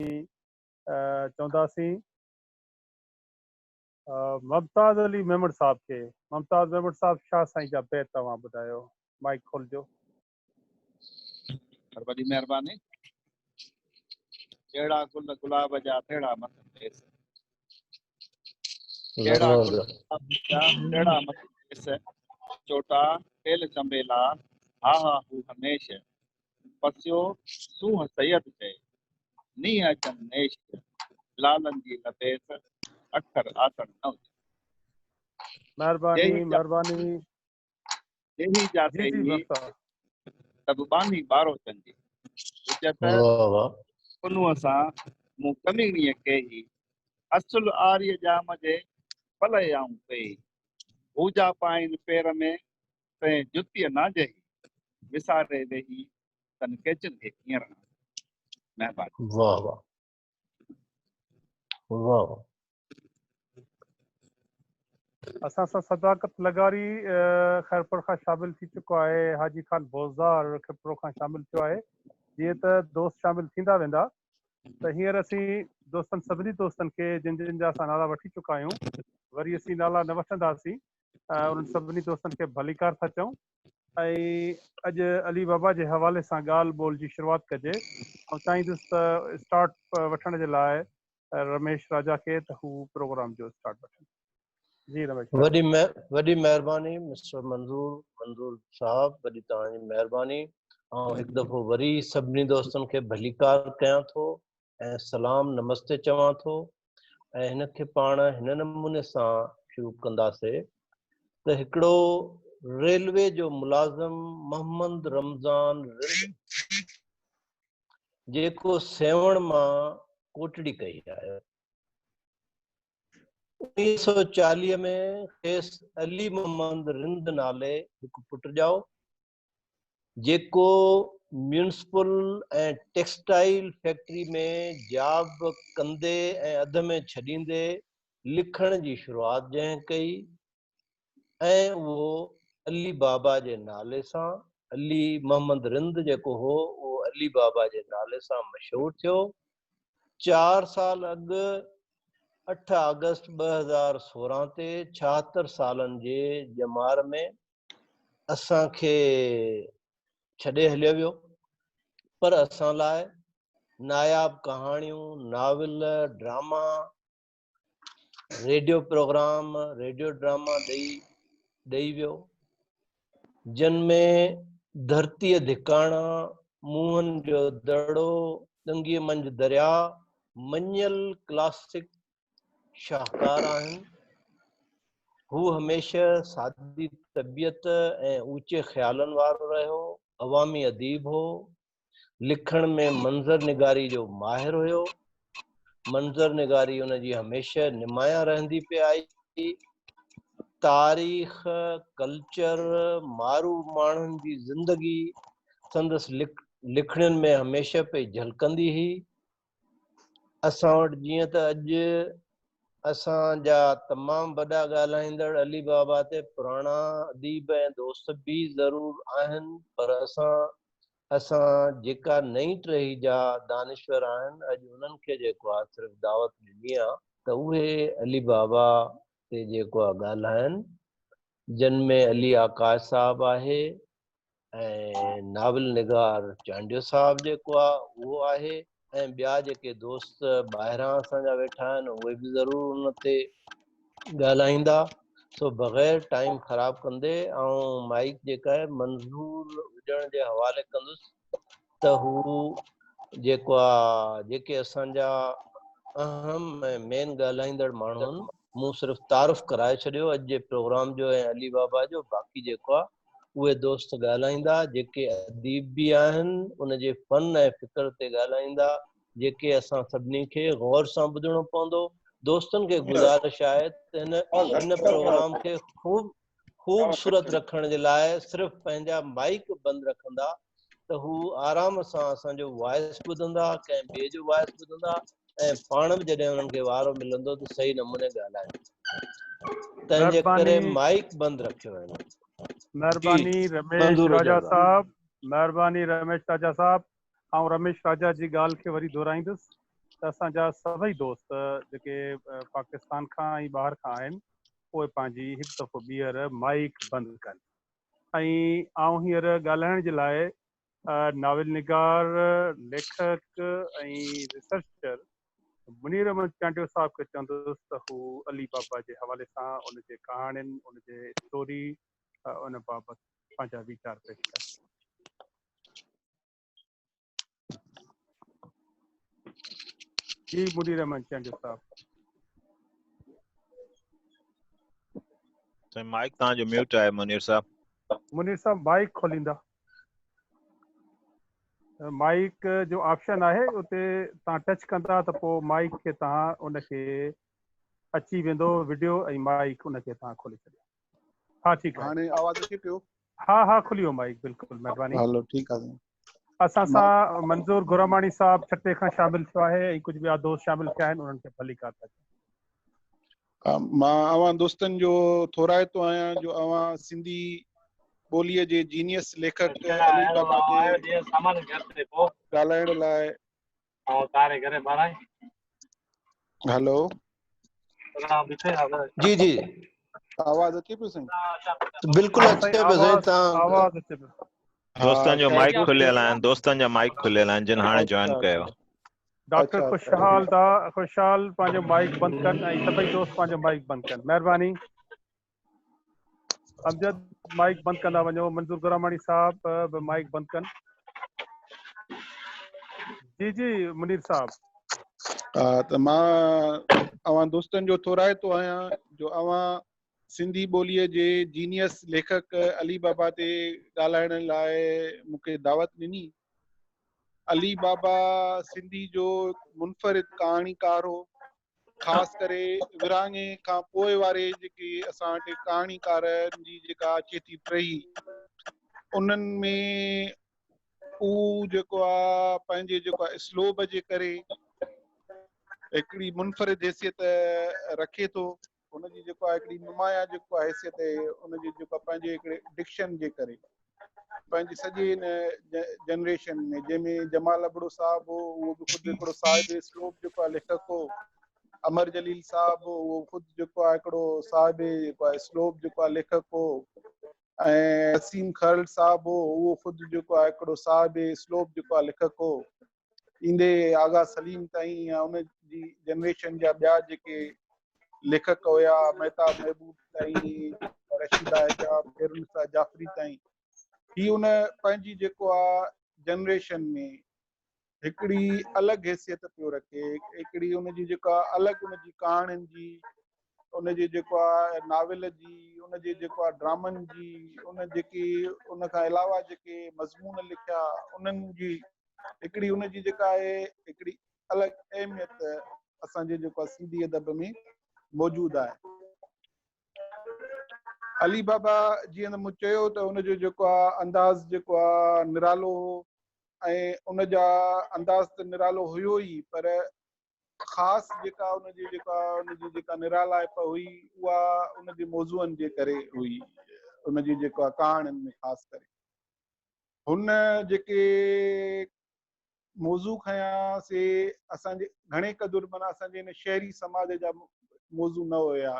جي چونداسين. ممتاز علي ميمڻ صاحب کي ممتاز ميمڻ صاحب شاھ سائين جا بيت اوھان ٻڌايو مائيڪ کولجو. وڏي مھرباني. جهڙا گل گلاب جا تهڙا مٿن ليس. جهڙا گل گلاب جا تهڙا مٿن ليس. چوٽا ٽيل چنبيلا ها ها هو هميشه. پسيو سونهن سيد چئي، نينهن اچن نيش جا، لالن جي لتيس، اکر آسڻ نه اچن. مهرباني مهرباني جيهي جا جي جي تيهي بس سڀ ٻانهي ٻارو چن جي حجت واهه واهه انهن سان مون ڪميڻيء ڪيهي اصل آريء ڄام جي پلئي آئون پيهي هو جا پائين پير ۾ تنهن جتيء ناجهي، وساري ويهي تن ڪيچن کي ڪيئن رهان. مهرباني. واهه واهه واهه. اسان سان صداقت لغاري خيرپور کان شامل ٿي چڪو آهي حاجي خان بوزدار خيرپور کان شامل ٿيو آهي جيئن ته دوست شامل ٿيندا ويندا ته هينئر اسين دوستن سڀني دوستن کي جن جن جا اسان نالا وٺي چڪا آهيون وري اسين نالا نه وٺنداسين انهن سڀني دوستن کي ڀليڪار ٿا چئون ۽ اڄ علي بابا جي حوالي سان ڳالهه ٻولهه جي شروعات ڪجي. آئون چاهيندس ته اسٽارٽ وٺڻ جي لاء رميش راجا کي ته هو پروگرام جو اسٽارٽ وٺن. جي رميش ڀاء. وڏي وڏي مهرباني مسٽر منظور منظور صاحب وڏي توهان جي مهرباني آئون هڪ دفعو وري سڀني دوستن کي ڀليڪار ڪيان ٿو ۽ سلام نمستي چوان ٿو ۽ هن کي پاڻ هن نموني سان شروع ڪنداسي ته هڪڙو ريلوي جو ملازم محمد رمضان رند جيڪو سيوهڻ مان ڪوٽڙي ڪهي آيو انيس سو چاليهه ۾ کيس علي محمد رند نالي هڪ پٽ ڄائو جيڪو ميونسپل ۽ ٽيڪسٽائيل فيڪٽري ۾ جاب ڪندي ۽ اڌ ۾ ڇڏيندي لکڻ جي شروعات جنهن ڪئي ۽ اهو علي بابا جي نالي سان علي محمد رند جيڪو هو اهو علي بابا جي نالي سان مشهور ٿيو چار سال اڳ اٺ آگسٽ ٻه هزار سورهن تي ڇاهتر سالن جي ڄمار ۾ اسان کي ڇڏي هليو ويو پر اسان لاء ناياب ڪهاڻيون، novel, drama, radio programme, radio drama ڏئي ڏئي ويو جن ۾ ڌرتيء ڌڪاڻا، موهن جو دڙو، ڏنگيء منجهه درياء، مڃيل ڪلاسڪ شاهڪار آهن. هو هميشه سادي طبيعت ۽ اوچي خيالن وارو رهيو، عوامي اديب هو، لکڻ ۾ منظر نگاري جو ماهر هيو، منظر نگاري ان جي هميشه نمايان رهندي پئي آئي، تاريخ، ڪلچر، معروف ماڻهن جي زندگي سندس لکڻين ۾ هميشه پئي جهلڪندي هئي. اسان وٽ جيئن ته اڄ اسان جا تمام وڏا ڳالهائيندڙ علي بابا تي پراڻا اديب ۽ دوست به ضرور آهن پر اسان اسان جيڪا نئين ٽهي جا دانشور آهن اڄ انهن کي جيڪو آ صرف دعوت ڏني آ ته اهي علي بابا تي جيڪو آ ڳالهائن جن ۾ علي آڪاش صاحب آهي ۽ ناول نگار چانڊيو صاحب جيڪو آ اهو آهي ۽ ٻيا جيڪي دوست ٻاهران اسان جا ويٺا آهن اهي به ضرور ان تي ڳالهائيندا سو بغير ٽائيم خراب ڪندي آئون مائيڪ جيڪا آهي منظور هجڻ جي حوالي ڪندس ته هو جيڪو آ جيڪي اسان جا اهم ۽ مين ڳالهائيندڙ ماڻهن مون صرف تعارف ڪرائي ڇڏيو اڄ جي پروگرام جو ۽ علي بابا جو باقي جيڪو آ اهي دوست ڳالهائيندا جيڪي اديب به آهن ان جي فن ۽ فڪر تي ڳالهائيندا جيڪي اسان سڀني کي غور سان ٻڌڻو پوندو دوستن کي گذارش آهي ته هن هن پروگرام کي خوب خوب صورت رکڻ جي لاء صرف پنهنجا مائيڪ بند رکندا ته هو آرام سان اسان جو وائس ٻڌندا ڪنهن ٻئي جو وائس ٻڌندا ۽ پاڻ به جڏهن انهن کي وارو ملندو ته صحيح نموني ڳالهائيندا تنهن جي ڪري مائيڪ بند رکيو ويندو مهرباني رميش راجا صاحب مهرباني رميش راجا صاحب آئون رميش راجا جي ڳالهه کي وري دهرائيندس ته اسان جا سڀئي دوست جيڪي پاڪستان کان ۽ ٻاهر کان آهن پوء پنهنجي هڪ دفعو ٻيهر مائيڪ بند ڪن. ۽ آئون هينئر ڳالهائڻ جي لاء ناول نگار، ليکڪ ۽ ريسرچر منير احمد چانڊيو صاحب کي چوندس ته هو علي بابا جي حوالي سان ان جي ڪهاڻين، ان جي اسٽوري ان بابت پنهنجا ويچار پيش ڪن. جي مدير احمد چانڊيو صاحب سائين مائڪ تان جو ميوٽ آهي منير صاحب منير صاحب مائڪ کوليندا مائڪ جو آپشن آهي اتي تان ٽچ ڪندا ته پوء مائڪ کي تان ان کي اچي ويندو ويڊيو ۽ مائڪ ان کي تان کولي ڇڏيو ها ٺيڪ آهي هاڻي آواز اچي پيو ها ها کلي ويو مائيڪ بلڪل مهرباني هلو ٺيڪ آهي اسان سان منظور گراماڻي صاحب ڇٽي کان شامل ٿيو آهي ۽ ڪجهه ٻيا دوست شامل ٿيا آهن انهن کي ڀلي ڪار ٿا چئون مان اوهان دوستن جو ٿورائتو آهيان جو اوهان سنڌي ٻوليء جي جينيس ليکڪ ڳالهائڻ لاء هلو جي جي آواز اچي پيو سائين بلڪل اچي پيو سائين تان آواز اچي پيو دوستن جو مائيڪ کليل آهن دوستن جا مائيڪ کليل آهن جن هاڻي جوائن ڪيو ڊاڪٽر خوشحال دا خوشحال پنهنجو مائيڪ بند ڪن ۽ سڀئي دوست پنهنجو مائيڪ بند ڪن مهرباني امجد مائيڪ بند ڪندا وڃو منظور گراماڻي صاحب به مائيڪ بند ڪن جي جي منير صاحب ها ته مان اوهان دوستن جو ٿورائتو آهيان جو اوهان سنڌي ٻوليء جي جينيس ليکڪ علي بابا تي ڳالهائڻ لاء مونکي دعوت ڏني علي بابا سنڌي جو منفرد ڪهاڻيڪار هو خاص ڪري ورهاڱي کان پوء واري جيڪي اسان وٽ ڪهاڻيڪارن جي جيڪا اچي ٿي ٽهي انهن ۾ هو جيڪو آهي پنهنجي جيڪو آهي اسلوب جي ڪري هڪڙي منفرد حيثيت رکي ٿو ان جي جيڪو آهي هڪڙي نمايان جيڪو آهي حيثيت آهي ان جي جيڪو پنهنجي هڪڙي ڊڪشن جي ڪري پنهنجي سڄي هن جنريشن ۾ جنهن ۾ جمال ابڙو صاحب هو اهو به خود هڪڙو صاحب اسلوب جيڪو آهي ليکڪ هو امر جليل صاحب هو اهو خود جيڪو آهي هڪڙو صاحب جيڪو آهي اسلوب جيڪو آهي ليکڪ هو ۽ وسيم خرل صاحب هو اهو خود جيڪو آهي هڪڙو صاحب اسلوب جيڪو آهي ليکڪ هو ايندي آغا سليم تائين يا ان جي جنريشن جا ٻيا جيڪي ليکڪ هيا مهتاب محبوب تائين رشيده حجاب خيرالنساء جعفري تائين هي ان پنهنجي جيڪو آ جنريشن ۾ هڪڙي الڳ حيثيت پيو رکي هڪڙي ان جي جيڪا الڳ ان جي ڪهاڻين جي ان جي جيڪو آ ناول جي ان جي جيڪو آ ڊرامن جي ان جيڪي ان کان علاوه جيڪي مضمون لکيا انهن جي هڪڙي ان جي جيڪا آهي هڪڙي الڳ اهميت اسان جي جيڪو سنڌي ادب ۾ موجود آهي علي بابا جيئن ته مون چيو ته ان جو جيڪو آ انداز جيڪو آ نرالو هو ۽ ان جا انداز ته نرالو هيو ئي پر خاص جيڪا ان جي جيڪا ان جي جيڪا نرالائپ هئي اها ان جي موضوعن جي ڪري هئي ان جي جيڪا ڪهاڻين ۾ خاص ڪري هن جيڪي موضوع کنيا سي اسان جي گهڻي قدر مانا اسان جي هن شهري سماج جا موضوع نه هيا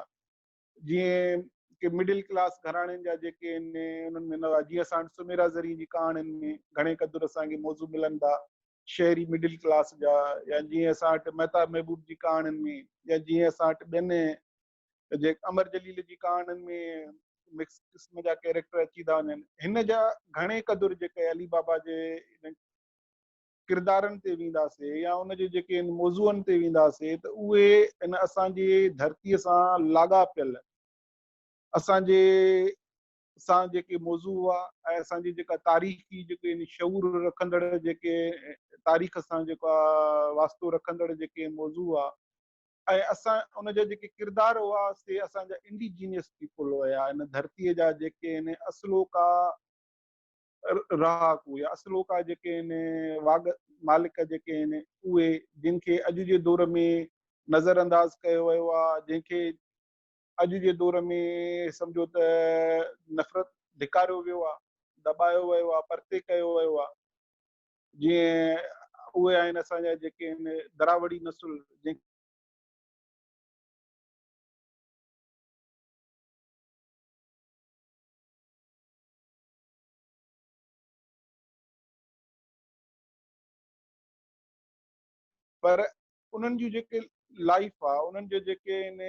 جيئن ڪي مڊل ڪلاس گهراڻين جا جيڪي ان انهن ۾ نه هئا جيئن اسان سميرا زرين جي ڪهاڻين ۾ گهڻي قدر اسان کي موضوع ملن ٿا شهري مڊل ڪلاس جا يا جيئن اسان وٽ مهتاب محبوب جي ڪهاڻين ۾ يا جيئن اسان وٽ ٻين جي امر جليل جي ڪهاڻين ۾ مڪس قسم جا ڪيريڪٽر اچي ٿا وڃن هن جا گهڻي قدر جيڪي علي بابا جي ڪردارن تي وينداسي يا ان جي جيڪي ان موضوعن تي وينداسي ته اهي ان اسان جي ڌرتي سان لاڳاپيل اسان جي اسان جيڪي موضوع هئا ۽ اسان جي جيڪا تاريخي جيڪي يعني شعور رکندڙ جيڪي تاريخ سان جيڪا واسطو رکندڙ جيڪي موضوع هئا ۽ اسان ان جا جيڪي ڪردار هئا سي اسان جا انڊيجينيس پيپل هيا ان ڌرتي جا جيڪي ان اصلوڪا رهاڪو يا اصلوڪا جيڪي ان واگ مالڪ جيڪي ان اهي جن کي اڄ جي دور ۾ نظر انداز ڪيو ويو آهي جن کي اڄ جي دور ۾ سمجهو ته نفرت ڌڪاريو ويو آهي، دٻايو ويو آهي، پرتي ڪيو ويو آهي. جيئن اهي آهن اسان جا جيڪي هن دراوڙي نسل جنهن پر انهن جون جيڪي لائيف آ انهن جون جيڪي آهن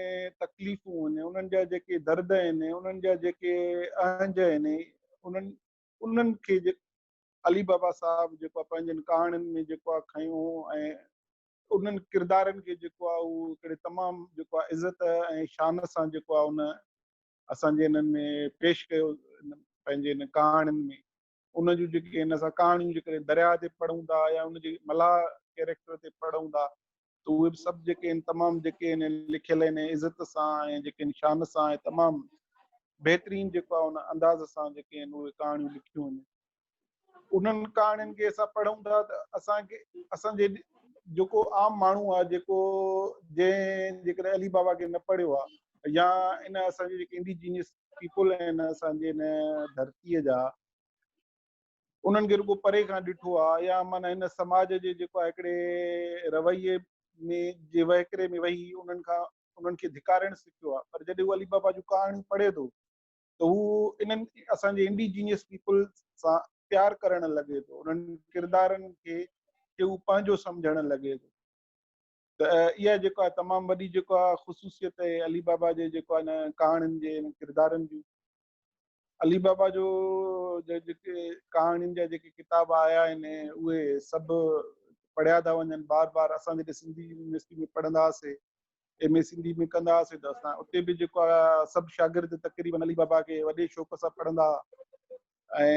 تڪليفون آهن انهن جا جيڪي درد آهن انهن جا جيڪي اهنج آهن انهن انهن کي علي بابا صاحب جيڪو آ پنهنجن ڪهاڻين ۾ جيڪو آ کنيو ۽ انهن ڪردارن کي جيڪو آ اهو هڪڙي تمام جيڪو آ عزت ۽ شان سان جيڪو آ ان اسان جي انهن ۾ پيش ڪيو پنهنجي ان ڪهاڻين ۾. ان جون جيڪي ان سان ڪهاڻيون جيڪڏهن درياء تي پڙهون ٿا يا ان جي ملاح ڪيريڪٽر تي پڙهون ٿا ته اهي به سڀ جيڪي آهن تمام جيڪي آهن لکيل آهن عزت سان ۽ جيڪي آهن شان سان ۽ تمام بهترين جيڪو آهي ان انداز سان جيڪي آهن اهي ڪهاڻيون لکيون وڃن انهن ڪهاڻين کي اسان پڙهون ٿا ته اسانکي اسانجي جيڪو عام ماڻهو آهي جيڪو جنهن جيڪڏهن علي بابا کي نه پڙهيو آهي يا ان اسانجي جيڪي انڊيجينس پيپل آهن اسان جي هن ڌرتيء جا انهن کي رڳو پري کان ڏٺو آهي يا معنيٰ هن سماج جي جيڪو آهي هڪڙي رويي ۾ جي وهڪري ۾ وهي انهن کان انهن کي ڌڪارڻ سکيو آهي پر جڏهن هو علي بابا جون ڪهاڻيون پڙهي ٿو ته هو انهن اسان جي انڊيجينيس پيپل سان پيار ڪرڻ لڳي ٿو انهن ڪردارن کي هو پنهنجو سمجهڻ لڳي ٿو ته اها جيڪو آهي تمام وڏي جيڪو آهي خصوصيت اهي علي بابا جي جيڪو آهي هن ڪهاڻين جي هن ڪردارن جون علي بابا جو جيڪي ڪهاڻين جا جيڪي ڪتاب آيا آهن اهي سڀ پڙهيا ٿا وڃن بار بار اسان جڏهن سنڌي يونيورسٽي ۾ پڙهندا هئاسين ايم اي سنڌي ۾ ڪندا هئاسين ته اسان اتي به جيڪو سڀ شاگرد تقريبن علي بابا کي وڏي شوق سان پڙهندا ۽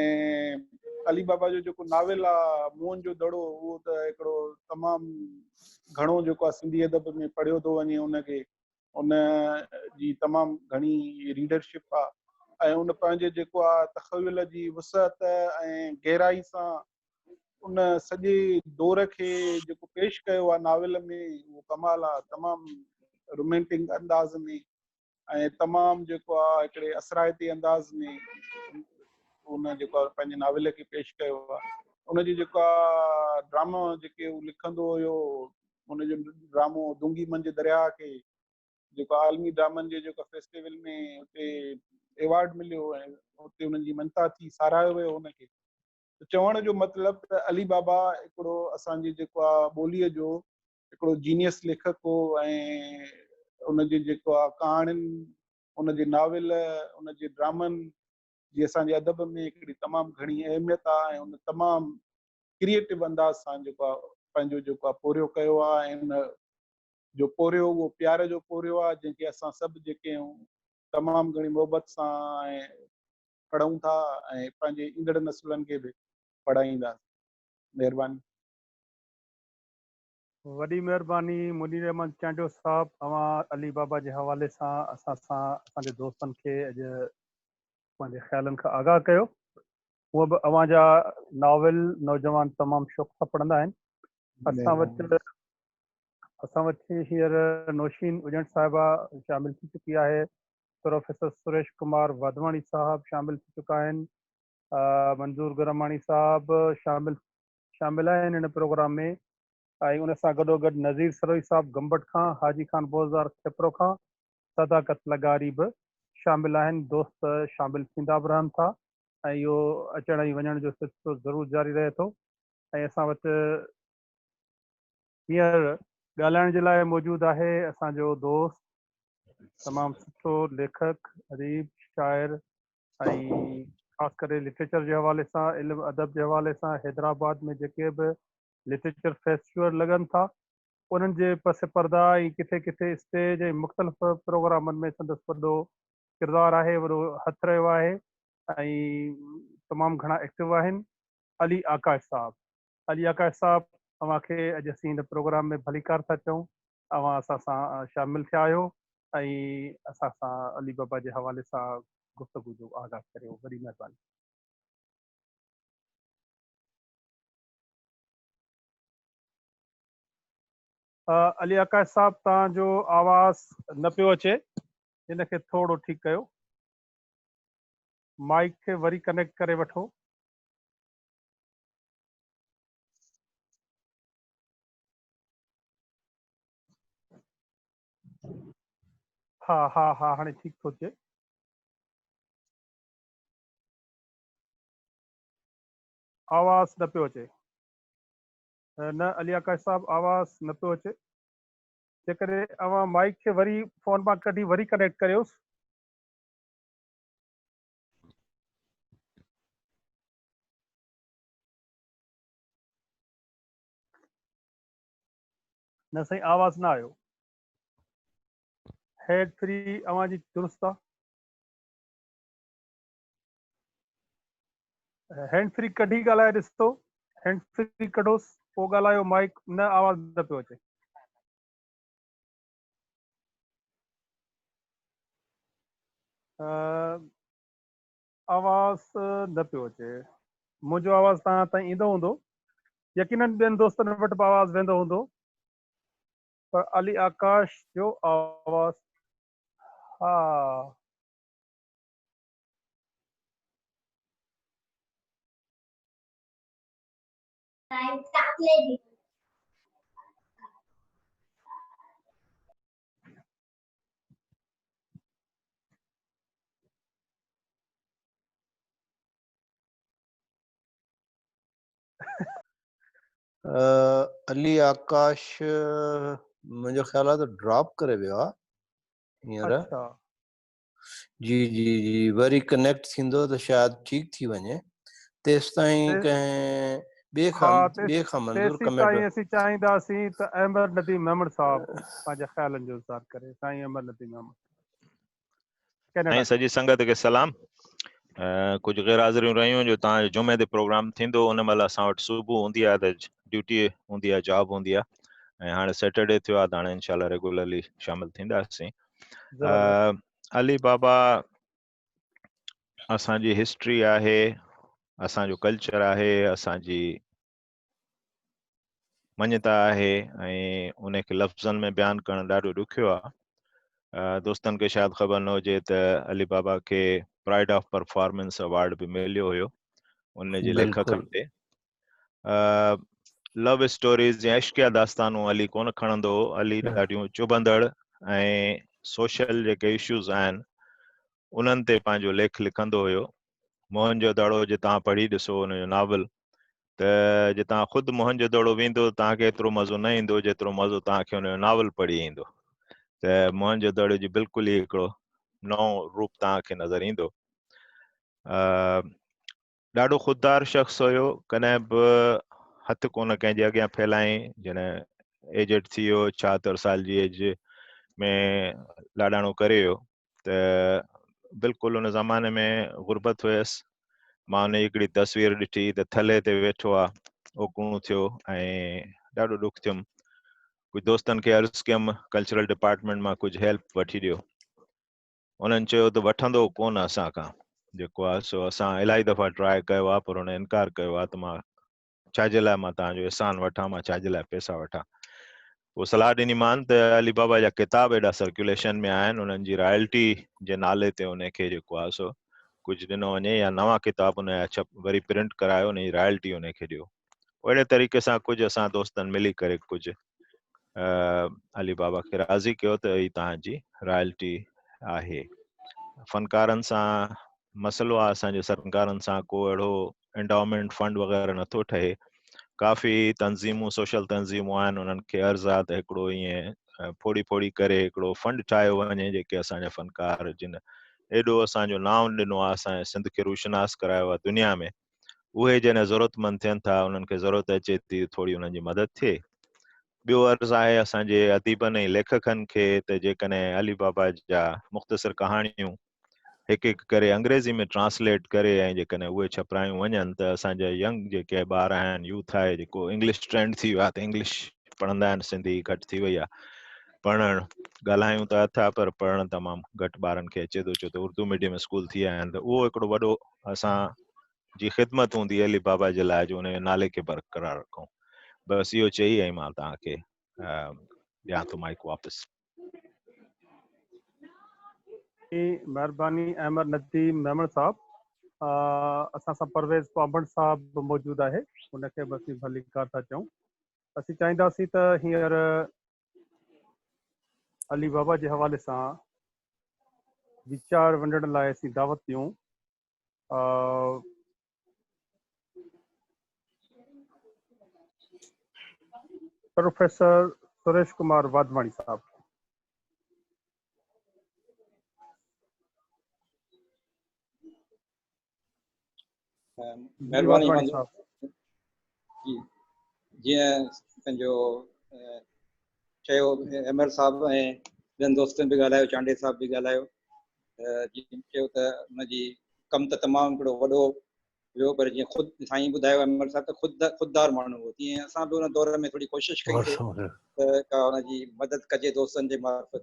علي بابا جو جيڪو ناول آ موهن جو دڙو اهو ته هڪڙو تمام گهڻو جيڪو آ سنڌي ادب ۾ پڙهيو ٿو وڃي ان کي ان جي تمام گهڻي ريڊرشپ آ ۽ ان پنهنجي جيڪو آ تخيل جي وسعت ۽ گهرائي سان ان سڄي دور کي جيڪو پيش ڪيو آ ناول ۾ اهو ڪمال آ تمام رومانٽڪ انداز ۾ ۽ تمام جيڪو آ هڪڙي اثرائتي انداز ۾ ان جيڪو آ پنهنجي ناول کي پيش ڪيو آ ان جي جيڪو آ ڊرامو جيڪي هو لکندو هيو ان جو ڊرامو دونگي منجهه درياء کي جيڪو عالمي ڊرامن جي جيڪو فيسٽيول ۾ اتي ايوارڊ مليو ۽ اتي انهن جي منتا ٿي ساراهيو ويو ان کي چوڻ جو مطلب ته علي بابا هڪڙو اسان جي جيڪو آ ٻوليء جو هڪڙو جينيئس ليکڪ هو ۽ ان جي جيڪو آ ڪهاڻين، ان جي ناول، ان جي ڊرامن جي اسان جي ادب ۾ هڪڙي تمام گهڻي اهميت آ ۽ ان تمام ڪريئيٽو انداز سان جيڪو آ پنهنجو جيڪو آ پورهيو ڪيو آ ۽ ان جو پورهيو اهو پيار جو پورهيو آ جنهن کي اسان سڀ جيڪي آهيون تمام گهڻي محبت سان پڙهون ٿا ۽ پنهنجي ايندڙ نسلن کي به پڙهائينداسين. مهرباني. وڏي مھرباني منير احمد چانڊيو صاحب اوھان علي بابا جي حوالي سان اسان سان اسان جي دوستن کي اڄ پنھنجي خيالن کان آگاھ ڪيو ھونء به اوھان جا ناول نوجوان تمام شوق سان پڙھندا آھن اسان وٽ اسان وٽ ھينئر نوشين اڄڻ صاحبه شامل ٿي چڪي آھي پروفيسر سريش ڪمار واڌواڻي صاحب شامل ٿي چڪا آھن منظور گراماڻي صاحب شامل شامل آهن هن پروگرام ۾ ۽ ان سان گڏوگڏ نظير سروهي صاحب گمبٽ کان، حاجي خان بوزدار کيپرو کان، صداقت لغاري به شامل آهن، دوست شامل ٿيندا به رهن ٿا ۽ اهو اچڻ ۽ وڃڻ جو سلسلو ضرور جاري رهي ٿو ۽ اسان وٽ هينئر ڳالهائڻ جي لاء موجود آهي اسان جو دوست تمام سٺو ليکڪ، اديب، شاعر، ۽ خاص ڪري لٽريچر جي حوالي سان علم ادب جي حوالي سان حيدرآباد ۾ جيڪي به لٽريچر فيسٽيول لڳن ٿا انهن جي پس پرده ۽ ڪٿي ڪٿي اسٽيج ۽ مختلف پروگرامن ۾ سندس وڏو ڪردار آهي وڏو هٿ رهيو آهي ۽ تمام گهڻا ايڪٽو آهن علي آڪاش صاحب علي آڪاش صاحب اوهان کي اڄ اسين هن پروگرام ۾ ڀليڪار ٿا چئون اوهان اسان سان شامل ٿيا آهيو ۽ اسان سان علي بابا جي حوالي سان گفتگو جو آغاز ڪريو وڏي مهرباني علي آڪاش صاحب توهان جو آواز نه پيو اچي ان کي ٿورو ٺيڪ ڪيو مائڪ کي وري ڪنيڪٽ ڪري وٺو ها ها ها هاڻي ٺيڪ ٿو اچي آواز نه پيو اچي نه علي آڪاش صاحب آواز نه پيو اچي جيڪڏهن اوهان مائڪ کي وري فون مان ڪڍي وري ڪنيڪٽ ڪريوس نه سائين آواز نه آيو هيڊ فري اوهان جي درست آ هينڊ فري ڪڍي ڳالهائي ڏسو هينڊ فري ڪڍوس پوء ڳالهايو مائڪ نه آواز نه پيو اچي آواز نه پيو اچي منهنجو آواز توهان تائين ايندو هوندو يقينن ٻين دوستن وٽ به آواز ويندو هوندو پر علي آڪاش جو آواز ها علي آڪاش منهنجو خيال آهي ته ڊراپ ڪري ويو آهي هينئر جي جي جي وري ڪنيڪٽ ٿيندو ته شايد ٺيڪ ٿي وڃي تيستائين ڪنهن ٻئي کان ٻئي کان منظور ڪمينٽ ها تيستائين اسين چاهينداسين ته احمد نديم ميمڻ صاحب پنهنجا خيالن جو اظهار ڪري سائين احمد نديم ميمڻ سائين سڄي سنگت کي سلام ڪجهه غير حاضريون رهيون جو تان جمعي تي پروگرام ٿيندو ان مهل اسان وٽ صبح هوندي آهي ته ڊيوٽي هوندي آهي جاب هوندي آهي ۽ هاڻي سيٽرڊي ٿيو آهي ته هاڻي انشاء الله ريگولرلي شامل ٿينداسين علي بابا اسان جي هسٽري آهي اسان جو ڪلچر آهي اسان جي مڃتا آهي ۽ ان کي لفظن ۾ بيان ڪرڻ ڏاڍو ڏکيو آهي دوستن کي شايد خبر نه هجي ته علي بابا کي پرائڊ آف پرفارمنس اوارڊ به مليو هيو ان جي لکڪن تي لو اسٽوريز يا عشقيه داستانون علي ڪونه کڻندو هو علي ڏاڍيون چڀندڙ ۽ سوشل جيڪي اشوز آهن انهن تي پنهنجو ليک لکندو هيو موهن جو دڙو جي تان پڙهي ڏسو ان جو ناول ته جي تان خود موهن جو دڙو ويندو تان کي ايترو مزو نه ايندو جيترو مزو تان کي ان جو ناول پڙهي ايندو ته موهن جو دڙو جي بلڪل ئي هڪڙو نئون روپ تان کي نظر ايندو ڏاڍو خوددار شخص هيو ڪڏهن به هٿ ڪونه ڪنهن جي اڳيان ڦيلائين جڏهن ايجڊ ٿي ويو ڇاهتر سال جي ايج ۾ لاڏاڻو ڪري ويو ته بلڪل ان زماني ۾ غربت هيس مان ان جي هڪڙي تصوير ڏٺي ته ٿلهي تي ويٺو آهي اوڪڻو ٿيو ۽ ڏاڍو ڏک ٿيم ڪجهه دوستن کي عرض ڪيم ڪلچرل ڊپارٽمنٽ مان ڪجهه هيلپ وٺي ڏيو انهن چيو ته وٺندو ڪونه اسان کان جيڪو آهي سو اسان الائي دفعا ٽراء ڪيو آهي پر هن انڪار ڪيو آهي ته مان ڇا جي لاء مان توهان جو احسان وٺان مان ڇا جي لاء پيسا وٺان پوء صلاح ڏني مان ته علي بابا جا ڪتاب ايڏا سرڪيوليشن ۾ آهن انهن جي رائلٽي جي نالي تي ان کي جيڪو آهي سو ڪجهه ڏنو وڃي يا نوان ڪتاب ان جا وري پرنٽ ڪرايو ان جي رائلٽي ان کي ڏيو اهڙي طريقي سان ڪجهه اسان دوستن ملي ڪري ڪجهه علي بابا کي راضي ڪيو ته هي تهان جي رائلٽي آهي فنڪارن سان مسئلو آهي اسان جي سرڪارن سان ڪو اهڙو انڊامنٽ فنڊ وغيرہ نٿو ٺهي ڪافي تنظيمون سوشل تنظيمون آهن انهن کي عرض آ ته هڪڙو ائين ڦوڙي ڦوڙي ڪري هڪڙو فنڊ ٺاهيو وڃي جيڪي اسان جا فنڪار جن ايڏو اسان جو نانء ڏنو آهي اسان سنڌ کي روشناس ڪرايو آهي دنيا ۾ اهي جنهن ضرورتمند ٿين ٿا انهن کي ضرورت اچي ٿي ٿوري انهن جي مدد ٿئي ٻيو عرض آهي اسان جي اديبن ۽ ليکڪن کي ته جيڪڏهن علي بابا جا مختصر ڪهاڻيون هڪ هڪ ڪري انگريزي ۾ ٽرانسليٽ ڪري ۽ جيڪڏهن اهي ڇپرايون وڃن ته اسان جا ينگ جيڪي ٻار آهن يوٿ آهي جيڪو انگلش ٽرينڊ ٿي ويو ته انگلش پڙهندا آهن سنڌي گهٽ ٿي وئي آهي پڙهڻ ڳالهايون ته اٿا پر پڙهڻ تمام گهٽ ٻارن کي اچي ٿو ڇو ته اردو ميڊيم اسڪول ٿي آيا آهن ته اهو هڪڙو وڏو اسان جي خدمت هوندي علي بابا جي لاء جو ان جي نالي کي برقرار رکون بس اهو چئي ۽ مان توهان کي ڏيان ٿو مائڪ واپس مهرباني احمد نديم ميمڻ صاحب اسان سان پرويز پامبڻ صاحب به موجود آهي ان کي به اسين ڀليڪار ٿا چئون اسين چاهينداسين ته هينئر علي بابا جي حوالي سان ويچار ونڊڻ لاء اسين دعوت ڏيون پروفيسر سريش ڪمار واڌواڻي صاحب مهرباني جي جيئن پنهنجو چيو ايم ايل صاحب ۽ ٻين دوستن به ڳالهايو چانڊي صاحب به ڳالهايو جيئن چيو ته ان جي ڪم ته تمام هڪڙو وڏو هيو پر جيئن خود سائين ٻڌايو ايم ايل صاحب ته خود خوددار ماڻهو هو تيئن اسان به ان دور ۾ ٿوري ڪوشش ڪئي ته ان جي مدد ڪجي دوستن جي معرفت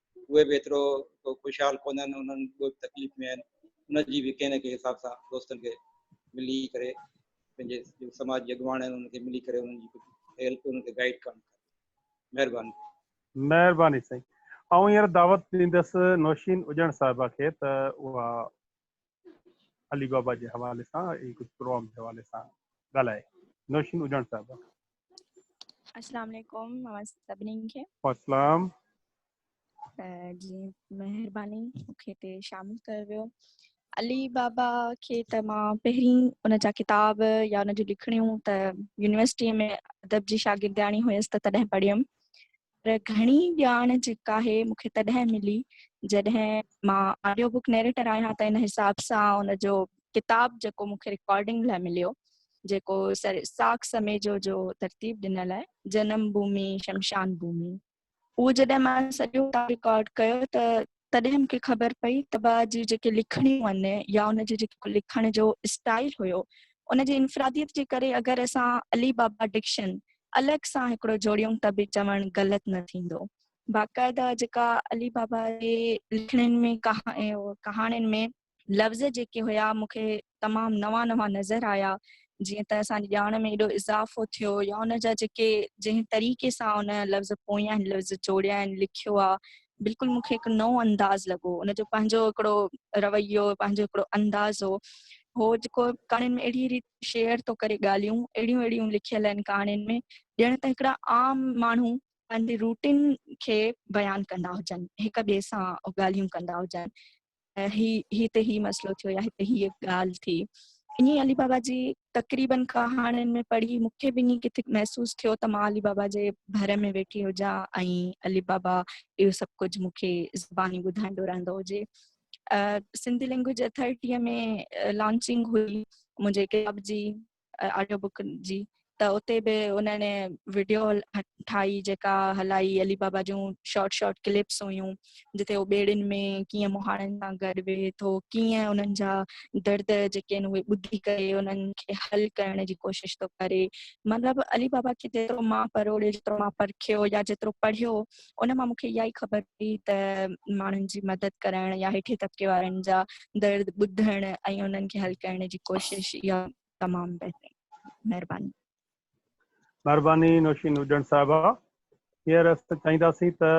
اهي به ايترو ڪو خوشحال ڪونهن، انهن به تڪليف ۾ آهن، ان جي به ڪنهن نه ڪنهن حساب سان دوستن کي ملي ڪري پنهنجي جيڪي سماج جي اڳواڻ آهن انهن کي ملي ڪري انهن جي هيلپ انهن کي گائيڊ ڪرڻ کپي. مهرباني. مهرباني سائين. آئون هينئر دعوت ڏيندس نوشين اڄڻ صاحبه کي ته اها علي بابا جي حوالي سان ۽ ڪجهه پروگرام جي حوالي سان ڳالهائي نوشين اجهاڻ صاحب السلام عليڪم اوهان سڀني کي السلام جي مهرباني مونکي تي شامل ڪيو ويو علي بابا کي ته مان پهرين ان جا ڪتاب يا ان جون لکڻيون ته يونيورسٽي ۾ ادب جي شاگردياڻي هيس ته تڏهن پڙهيم پر گهڻي ڄاڻ جيڪا آهي مون کي تڏهن ملي جڏهن مان آڊيو بوڪ نيريٽر آهيان ته ان حساب سان ان جو ڪتاب جيڪو مون کي رڪارڊنگ لاء مليو جيڪو سر ساڪ سميجو جو ترتيب ڏنل آهي جنم ڀومي شمشان ڀومي اهو جڏهن مان سڄو رڪارڊ ڪيو ته تڏهن مون کي خبر پئي ته بابا جي جيڪي لکڻيون هن يا ان جي جيڪو لکڻ جو اسٽائيل هيو ان جي انفراديت جي ڪري اگر اسان علي بابا ڊڪشن الڳ سان هڪڙو جوڙيون ته به چوڻ غلط نه ٿيندو. باقاعده جيڪا علي بابا جي لکڻين ۾ ڪهاڻين ۾ لفظ جيڪي هيا مون کي تمام نوان نوان نظر آيا جيئن ته اسان جي ڄاڻ ۾ ايڏو اضافو ٿيو يا ان جا جيڪي جنهن طريقي سان ان لفظ پويان لفظ جوڙيا آهن لکيو آ بلڪل مون کي هڪ نئون انداز لڳو ان جو پنهنجو هڪڙو رويو پنهنجو هڪڙو انداز هو هو جيڪو ڪهاڻين ۾ اهڙي ريت شيئر ٿو ڪري ڳالهيون اهڙيون اهڙيون لکيل آهن ڪهاڻين ۾ ڄڻ ته هڪڙا عام ماڻهو پنهنجي روٽين کي بيان ڪندا هجن هڪ ٻئي سان ڳالهيون ڪندا هجن هي هتي هي مسئلو ٿيو يا هتي هيء ڳالهه ٿي ائين علي بابا جي تقريبن ڪهاڻين ۾ پڙهي مون کي به ائين ڪٿي محسوس ٿيو ته مان علي بابا جي ڀر ۾ ويٺي هجان ۽ علي بابا اهو سڀ ڪجهه مون کي زباني ٻڌائيندو رهندو هجي سنڌي لينگويج اٿارٽيء ۾ لانچنگ هئي منهنجي ڪتاب جي آڊيو بڪ جي ته اتي به انهن وڊيو ٺاهي جيڪا هلائي علي بابا جون شارٽ شارٽ ڪلپس هيون جتي هو ٻيڙين ۾ ڪيئن مهاڻن سان گڏ ويهي ٿو ڪيئن انهن جا درد جيڪي آهن اهي ٻڌي ڪري انهن کي حل ڪرڻ جي ڪوشش ٿو ڪري مطلب علي بابا کي جيترو مان پروڙيو جيترو مان پرکيو يا جيترو پڙهيو ان مان مون کي اها ئي خبر پئي ته ماڻهن جي مدد ڪرڻ يا هيٺين طبقي وارن جا درد ٻڌڻ ۽ انهن کي حل ڪرڻ جي ڪوشش اها تمام بهترين مهرباني مهرباني نوشين هجڻ صاحبه هينئر اسان چاهينداسين ته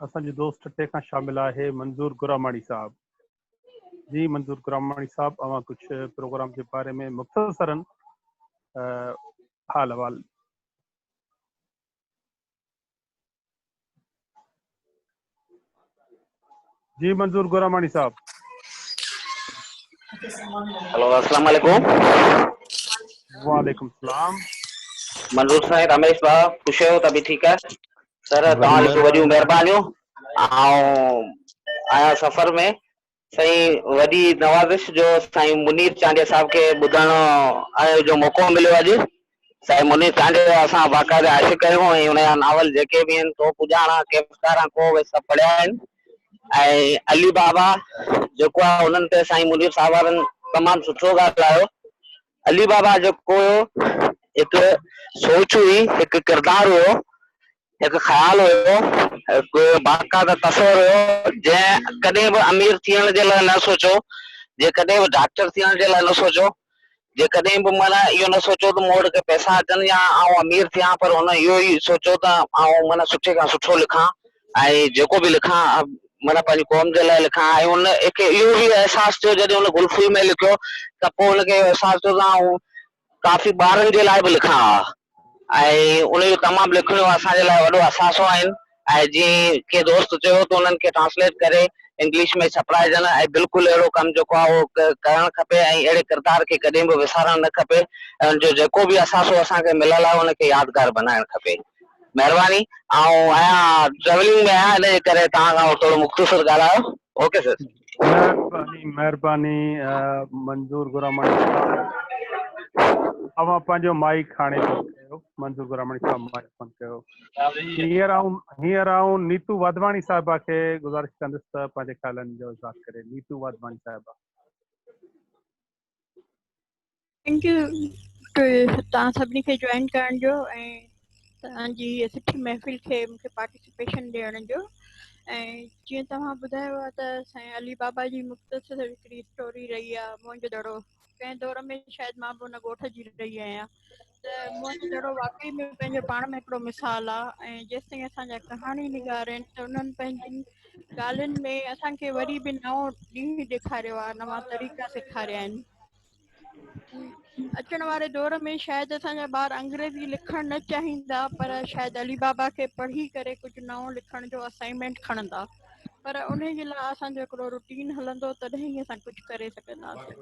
اسان جو دوست ٽي کان شامل آهي منظور گراماڻي صاحب جي منظور گراماڻي صاحب اوهان ڪجهه پروگرام جي باري ۾ مختصرن حال حوال جي منظور گوراماڻي صاحب هلو السلام عليڪم وعليڪم السلام منظور سائين رميش با خوش آهيو تبي ٺيڪ آهي سر توهان جون وڏيون مهربانيون آئون آهيان سفر ۾ سائين وڏي نوازش جو سائين منير چانڊيا صاحب کي ٻڌڻ جو موقعو مليو اڄ سائين منير چانڊيا جا اسان باقاعده عاشق آهيون ۽ ان جا ناول جيڪي به آهن تو پڄاڻا ڪيفڪارا ڪو اهي سڀ پڙهيا آهن ۽ علي بابا جيڪو آهي انهن تي سائين منير صاحب وارن تمام سٺو ڳالهايو علي بابا جيڪو هيو هڪ سوچ هئي هڪ ڪردار هيو هڪ خيال هيو، هڪ باقاعده تصور هيو، جنهن ڪڏهن به امير ٿيڻ جي لاء نه سوچيو، جنهن ڪڏهن به ڊاڪٽر ٿيڻ جي لاء نه سوچيو، جنهن ڪڏهن به معنيٰ اهو نه سوچيو ته مون وٽ ڪي پئسا اچن يا آئون امير ٿيان، پر هن اهو ئي سوچيو ته آئون معنيٰ سٺي کان سٺو لکان ۽ جيڪو به لکان معنيٰ پنهنجي قوم جي لاء لکان ۽ هن کي اهو به احساس ٿيو جڏهن هن گل ڦول ۾ لکيو ته پوء هن کي احساس ٿيو ته آئون ڪافي ٻارن جي لاء به لکان ها ۽ انهن جو تمام لکڻيون اسان جي لاء وڏو اثاثو آهن ۽ جيئن ڪنهن دوست چيو ته انهن کي ٽرانسليٽ ڪري انگلش ۾ ڇپرائجن ۽ بلڪل اهڙو ڪم جيڪو آهي اهو ڪرڻ کپي ۽ اهڙي ڪردار کي ڪڏهن به وسارڻ نه کپي ۽ ان جو جيڪو به اثاثو اسان کي مليل آهي ان کي يادگار بنائڻ کپي مهرباني آئون آهيان ٽريولنگ ۾ آهيان ان جي ڪري توهان کان ٿورو مختصر ڳالهايو اوڪي سر مھرباني مھرباني منظور گرامڻي صاحب اوھان پنھنجو مائيڪ ھاڻي بند ڪيو منظور گرامڻي صاحب مائيڪ بند ڪيو ھينئر آئون ھينئر آئون نيتو واڌواڻي صاحبه کي گذارش ڪندس ته پنھنجي خيالن جو اظھار ڪري نيتو واڌواڻي صاحبه ٿينڪ يو توهان سڀني کي جوائن ڪرڻ جو توهان جي سٺي محفل کي مون کي پارٽيسپيشن ڏيڻ جو جيئن توهان ٻڌايو آهي ته سائين علي بابا جي مختصر هڪڙي اسٽوري رهي آهي منهنجو دڙو ڪنهن دور ۾ شايد مان به ان ڳوٺ جي رهي آهيان ته مون کي جهڙو واقعي ۾ پنهنجو پاڻ ۾ هڪڙو مثال آ ۽ جيستائين اسان جا ڪهاڻي نگار آهن ته انهن پنهنجين ڳالهين ۾ اسان کي وري به نئون ڏينهن ڏيکاريو آ نوان طريقا سيکاريا آهن. اچڻ واري دور ۾ شايد اسان جا ٻار انگريزي لکڻ نه چاهيندا پر شايد علي بابا کي پڙهي ڪري ڪجهه نئون لکڻ جو اسائنمينٽ کڻندا. پر ان جي لاء اسان جو هڪڙو روٽين هلندو تڏهن ئي اسان ڪجهه ڪري سگهنداسين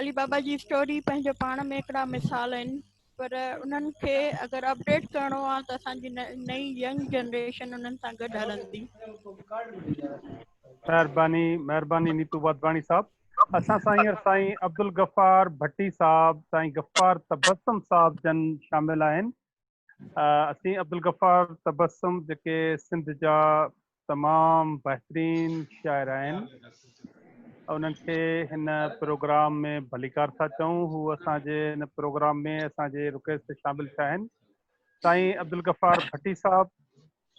علي بابا جي اسٽوري پنهنجو پاڻ ۾ هڪڙا مثال آهن پر انهن کي اگر اپڊيٽ ڪرڻو آ ته اسان جي نئين ينگ جنريشن انهن سان گڏ هلندي مهرباني مهرباني نيتو واڌواڻي صاحب اسان سان هينئر سائين عبدالغفار ڀٽي صاحب سائين غفار تبسم صاحب جن شامل آهن اسين عبدالغفار تبسم جيڪي سنڌ جا تمام بهترين شاعر آهن انهن کي هن پروگرام ۾ ڀليڪار ٿا چئون هو اسان جي هن پروگرام ۾ اسان جي رڪويسٽ تي شامل ٿيا آهن سائين عبدالغفار ڀٽي صاحب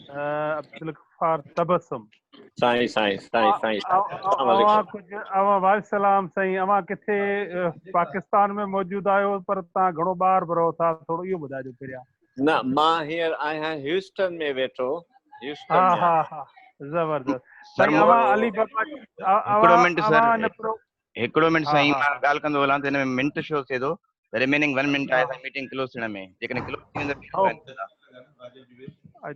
عبدالغفار تبسم سائين سائين سائين سائين السلام اوهان عليڪم ڪجهه اوهان وعليڪم السلام سائين اوهان ڪٿي پاڪستان ۾ موجود آهيو پر توهان گهڻو ٻاهر به رهو ٿا ٿورو اهو ٻڌائجو پهريان نه مان هينئر آهيان هيوسٽن ۾ ويٺو هيوسٽن ها ها ها زبردست سائين اوهان علي بابا اوهان اوهان هڪڙو منٽ ها سائين ها مان ها ڳالهه ڪندو هلان ته هن ۾ منٽ شو ٿئي ٿو ته رميننگ ون منٽ آهي ها سائين ميٽنگ ڪلوز ٿيڻ ۾ جيڪڏهن ڪلوز ٿي ويندو شو ڪرائي ڏيندا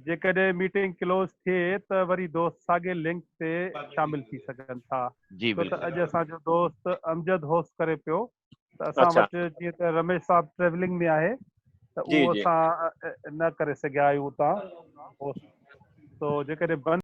جيڪڏهن ميٽنگ ڪلوز ٿئي ته وري دوست ساڳي لنڪ تي شامل ٿي سگهن ٿا جي ڇو ته بلڪل اڄ اسان جو دوست امجد هوسٽ ڪري پيو ته اسان اچا وٽ جيئن ته رميش صاحب ٽريولنگ ۾ آهي ته جي اهو جي اسان نه ڪري سگهيا آهيون اتان هوسٽ تو جيڪڏهن بند